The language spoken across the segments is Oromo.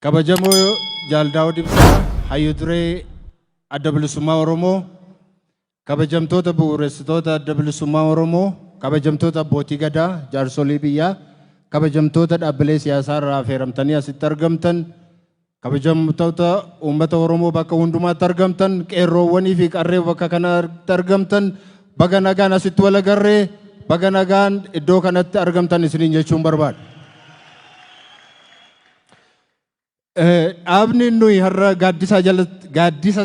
Kabajamoo Jaal Daawud Ibsaa Hayyu Duree Adda Bilisummaa Oromoo, kabajamtoota bu'uuressitoota Adda Bilisummaa Oromoo, kabajamtoota abbootii gadaa, jaarsolii biyyaa, kabajamtoota dhaabbilee siyaasaa irraa affeeramtanii asitti argamtan, Kabajamtoota uummata Oromoo bakka hundumaatti argamtan, qeerroowwanii fi qarree bakka kanatti argamtan baga nagaan asitti wal agarree baga nagaan iddoo kanatti argamtan isiniin jechuun barbaada. Dhaabni nuyi har'a gaaddisa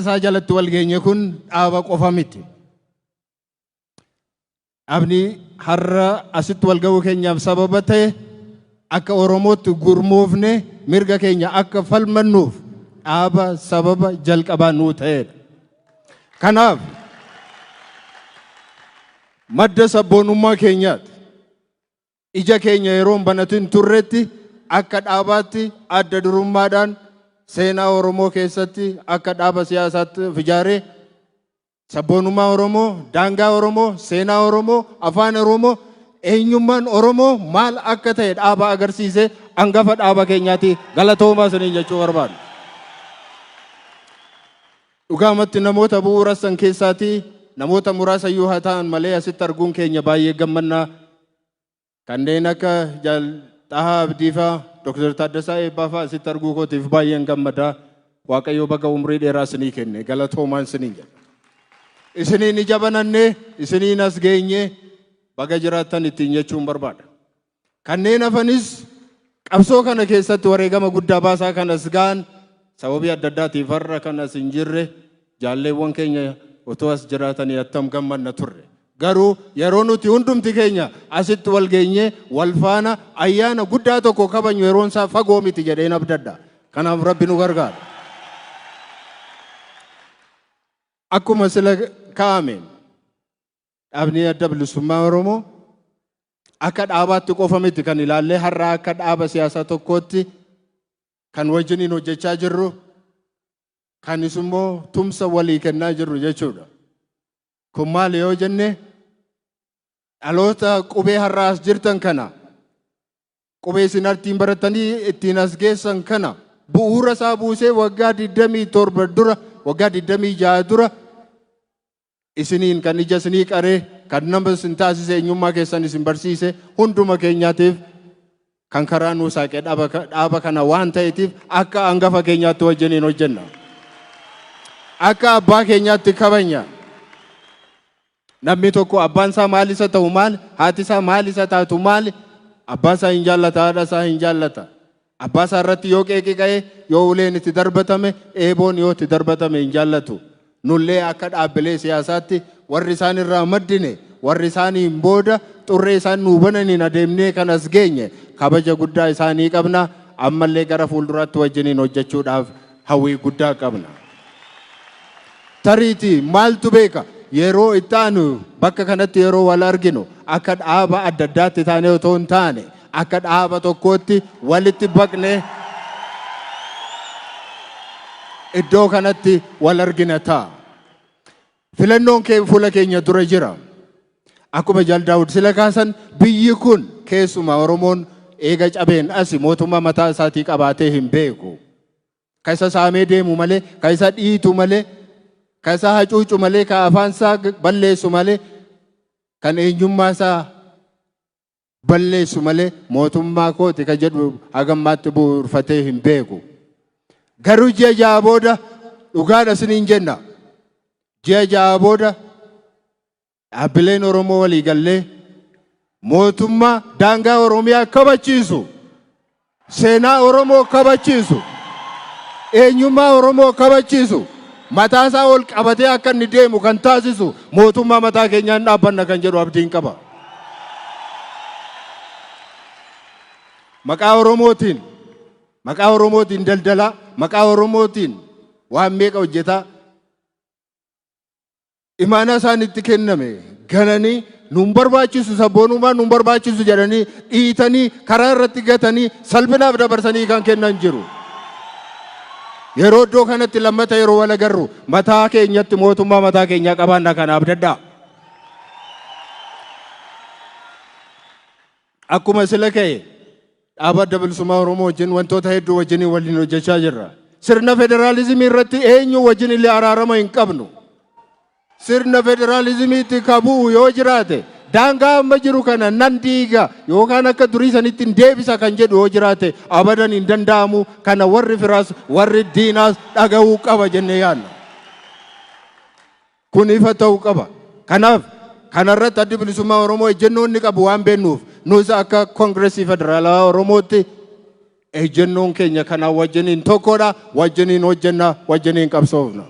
isaa jalatti wal geenye kun dhaaba qofa miti. Dhaabni har'a asitti wal ga'uu keenyaaf sababa ta'e akka Oromootti gurmoofne mirga keenya akka falmannuuf dhaaba sababa jalqabaa nuu ta'edha. Kanaaf madda sabboonummaa keenyaati. Ija keenya yeroo hin banatin turretti akka dhaabaatti adda durummaadhaan seenaa Oromoo keessatti akka dhaaba siyaasaatti of ijaaree sabboonummaa Oromoo, daangaa Oromoo, seenaa Oromoo, afaan Oromoo, eenyummaan Oromoo maal akka ta'e dhaaba agarsiise angafa dhaaba keenyaati galatoomaa isiniin jechuu barbaadu. Dhugaamatti namoota bu'uura san keessaatii namoota muraasa iyyuu haa ta'an malee asitti arguun keenya baay'ee gammanna. Kanneen akka Jaal Xahaa Abdiifaa, Dr. Taaddasaa Eebbaafaa asitti arguu kootiif baay'een gammada. Waaqayyo baga umrii dheeraa isinii kenne galatoomaan isiniin jedha. Isiniin ija banannee isiniin as geenye baga jiraattan ittiin jechuun barbaada. Kanneen hafanis qabsoo kana keessatti wareegama guddaa baasaa kan as ga'an sababii adda addaatiif har'a kan as hin jirre jaalleewwan keenya otoo as jiraatanii attam gammadna turre. Garuu yeroo nuti hundumti keenya asitti wal geenyee wal faana ayyaana guddaa tokko kabajnu yeroon isaa fagoo miti jedheen abdadha. Kanaaf Rabbi nu gargaara. Akkuma sila kaa'ameen Dhaabni Adda Bilisummaa Oromoo akka dhaabaatti qofa miti kan ilaallee har'aa akka dhaaba siyaasaa tokkootti kan wajjiniin hojjechaa jirru kanis immoo tumsa walii kennaa jirru jechuudha. Kun maali yoo jenne dhaloota qubee har'aa as jirtan kana qubee isin artiin baratanii ittiin as geessan kana bu'uura isaa buusee waggaa 27 dura waggaa 26 dura Isiniin kan ija isinii qare, kan nama isin taasise, eenyummaa keessan isin barsiise, hunduma keenyaatiif kan karaa nuu saaqe dhaaba kana waan ta'eetiif akka angafa keenyaatti wajjiniin hojjenna. Akka abbaa keenyaatti kabanya. Namni tokko abbaan isaa maal isa ta'u maal, haati isaa maal isa taatu maal, abbaa isaa hin jaallata, haadha isaa hin jaallata. Abbaa isaa irratti yoo qeeqi ka'e, yoo uleen itti darbatame, eeboon yoo itti darbatame hin jaallatu. Nullee akka dhaabbilee siyaasaatti warri isaan irraa maddine, warri isaaniin booda xurree isaan nuu bananiin adeemnee kan as geenye kabaja guddaa isaanii qabna. Ammallee gara fuulduraatti wajjiniin hojjechuudhaaf hawwii guddaa qabna. Tariitii maaltu beeka yeroo itti aanu bakka kanatti yeroo wal arginu akka dhaaba adda addaatti taanee otoo hin taane akka dhaaba tokkootti walitti baqnee iddoo kanatti wal argina ta'a. Filannoon kee fuula keenya dura jira. Akkuma Jaal Daawud sila kaasan biyyi kun keessumaa Oromoon eega cabeen asi mootummaa mataa isaatii qabaatee hin beeku. Ka isa saamee deemu malee, ka isa dhiitu malee, ka isa hacuucu malee, ka afaan isaa balleessu malee, kan eenyummaa isaa balleessu malee mootummaa kooti ka jedhu haga ammaatti bu'uurfatee hin beeku. Garuu ji'a ja'a booda dhugaadha isiniin jenna. Ji'a ja'a booda dhaabbileen Oromoo walii gallee mootummaa daangaa Oromiyaa kabachiisu Seenaa Oromoo kabachiisu, eenyummaa Oromoo kabachiisu mataasaa ol qabatee akka inni deemu kan taasisu mootummaa mataa keenyaan dhaabbanna kan jedhu abdiin qaba. Maqaa Oromootiin maqaa Oromootiin daldalaa, maqaa Oromootiin waan meeqa hojjetaa imaanaa isaanitti kenname gananii nuun barbaachisu sabboonummaa nuun barbaachisu jedhanii dhiitanii karaa irratti gatanii salphinaaf dabarsanii kan kennan jiru. Yeroo iddoo kanatti lammata yeroo wal agarru mataa keenyatti mootummaa mataa keenyaa qabaanna kana abdadhaa. Akkuma sila ka'e dhaaba Adda Bilisummaa Oromoo wajjin wantoota hedduu wajjin waliin hojjechaa jirra. Sirna federaalizimii irratti eenyu wajjin illee araarama hin qabnu. Sirna federaalizimiitti ka bu'u yoo jiraate daangaa amma jiru kana nan diiga yookaan akka durii sanitti hin deebisa kan jedhu yoo jiraate abadan hin danda'amu kana warri firaas warri diinaas dhaga'uu qaba jennee yaadna. Kun ifa ta'u qaba. Kanaaf, kana irratti Addi Bilisummaa Oromoo ejjennoo inni qabu waan beennuuf, nus akka Kongresii Federaalawaa Oromootti ejjennoon keenya kanaa wajjiniin tokkodha, wajjiniin hojjenna, wajjiniin qabsoofna.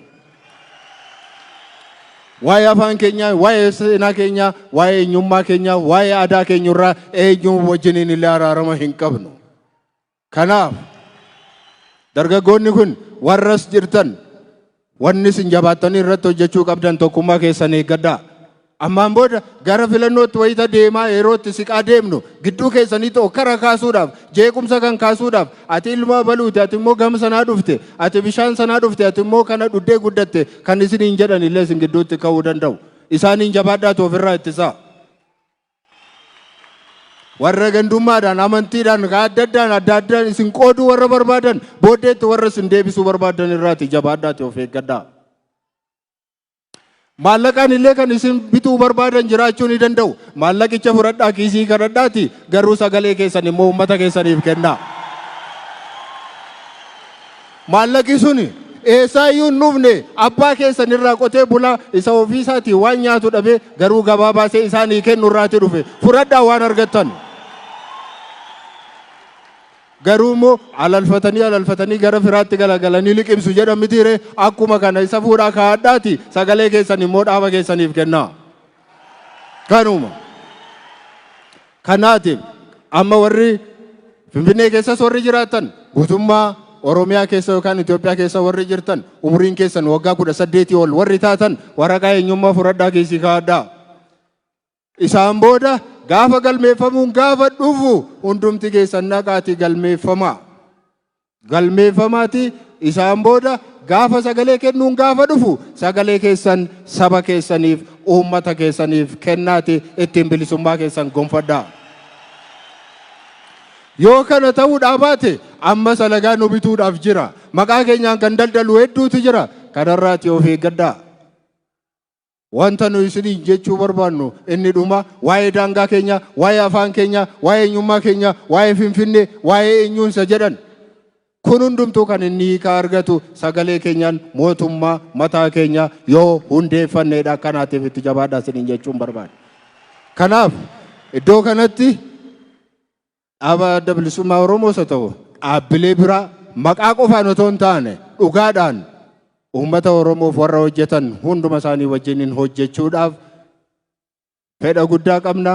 Waa'ee afaan keenyaa, waa'ee seenaa keenyaa, waa'ee eenyummaa keenyaa, waa'ee aadaa keenyurraa eenyuu wajjiniin illee araarama hin qabnu. Kanaaf, dargaggoonni kun warra as jirtan wanni isin jabaattanii irratti hojjechuu qabdan tokkummaa keessan eeggadhaa. Ammaan booda gara filannootti wayita deemaa yeroo itti siqaa deemnu gidduu keessanitti okkara kaasuudhaaf, jeequmsa kan kaasuudhaaf ati ilma abaluuti, ati immoo gama sanaa dhufte, ati bishaan sanaa dhufte, ati immoo kana dhuddee guddatte kan isiniin jedhan illee isin gidduutti ka'uu danda'u. Isaaniin jabaadhaatu ofirraa ittisaa. Warra gandummaadhaan, amantiidhaan, kan adda addaan, adda addaan isin qooduu warra barbaadan, booddeetti warra isin deebisuu barbaadan irraati jabaadhaati of eeggadhaa. Maallaqaan illee kan isin bituu barbaadan jiraachuu ni danda'u. Maallaqicha fudhadhaa kiisii kadhadhaati garuu sagalee keessan immoo uummata keessaniif kennaa. Maallaqi sun eessaa iyyuu hin dhufne, abbaa keessan irraa qotee bulaa isa ofii isaatii waan nyaatu dhabee garuu gabaa baasee isaanii kennu irraa ti dhufe. Fudhadhaa waan argattan. Garuu immoo alalfatanii alalfatanii gara firaatti galagalanii liqimsu jedhan mitii ree? Akkuma kana isa fuudhaa kaa'adhaatii sagalee keessan immoo dhaaba keessaniif kennaa. Kanuma. Kanaatiif amma warri Finfinnee keessas warri jiraatan guutummaa Oromiyaa keessa yookaan Itoophiyaa keessa warri jirtan umriin keessan waggaa kudha saddeetii ol warri taatan waraqaa eenyummaa fudhadhaa keessii kaa'adhaa. Isaan booda gaafa galmeeffamuun gaafa dhufu hundumti keessan naqaatii galmeeffamaa. galmeeffamaati. Isaan booda gaafa sagalee kennuun gaafa dhufu sagalee keessan saba keessaniif, uummata keessaniif kennaati ittiin bilisummaa keessan gonfadhaa. Yoo kana ta'uudhaa baate amma salagaa nu bituudhaaf jira. Maqaa keenyaan kan daldalu hedduutu jira. Kanarraati of eeggadhaa. Wanta nuyi isiniin jechuu barbaannu inni dhumaa waa'ee daangaa keenyaa, waa'ee afaan keenyaa, waa'ee eenyummaa keenyaa, waa'ee Finfinnee, waa'ee eenyuun isa jedhan. Kun hundumtuu kan inni hiikaa argatu sagalee keenyaan mootummaa mataa keenyaa yoo hundeeffanneedha. Kanaatiif itti jabaadhaa isiniin jechuun barbaada. Kanaaf iddoo kanatti Dhaaba Adda Bilisummaa Oromoos haa ta'u dhaabbilee biraa maqaa qofaan otoo hin taane dhugaadhaan uummata Oromoof warra hojjetan hunduma isaanii wajjiniin hojjechuudhaaf fedha guddaa qabna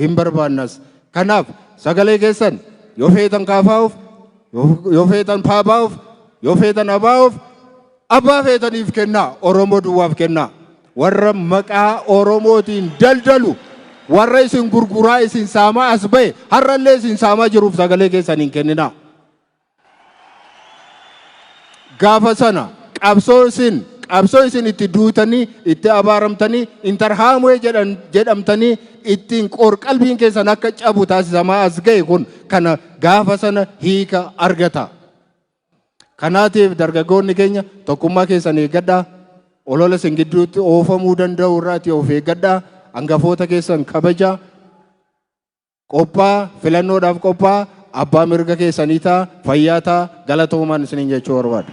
hin barbaannas. Kanaaf sagalee keessan yoo feetan kaafaa'uuf yoo feetan paabaa'uuf yoo feetan abaa'uuf abbaa feetaniif kennaa Oromoo duwwaaf kennaa. Warra maqaa Oromootiin daldalu, warra isin gurguraa, isin saamaa as ba'e, har'allee isin saamaa jiruuf sagalee keessan hin kenninaa. Gaafa sana qabsoo isin qabsoo isin itti duutanii, itti abaaramtanii, intarhaamwee jedhan jedhamtanii ittiin qorqalbiin keessan akka cabu taasisamaa as ga'e kun kana gaafa sana hiika argata. Kanaatiif dargaggoonni keenya tokkummaa keessan eeggadhaa, olola isin gidduutti oofamuu danda'u irraati of eeggadhaa, angafoota keessan kabajaa, qophaa'a, filannoodhaaf qophaa'a, abbaa mirga keessanii ta'a, fayyaa ta'a, galatoomaan isiniin jechuu barbaada.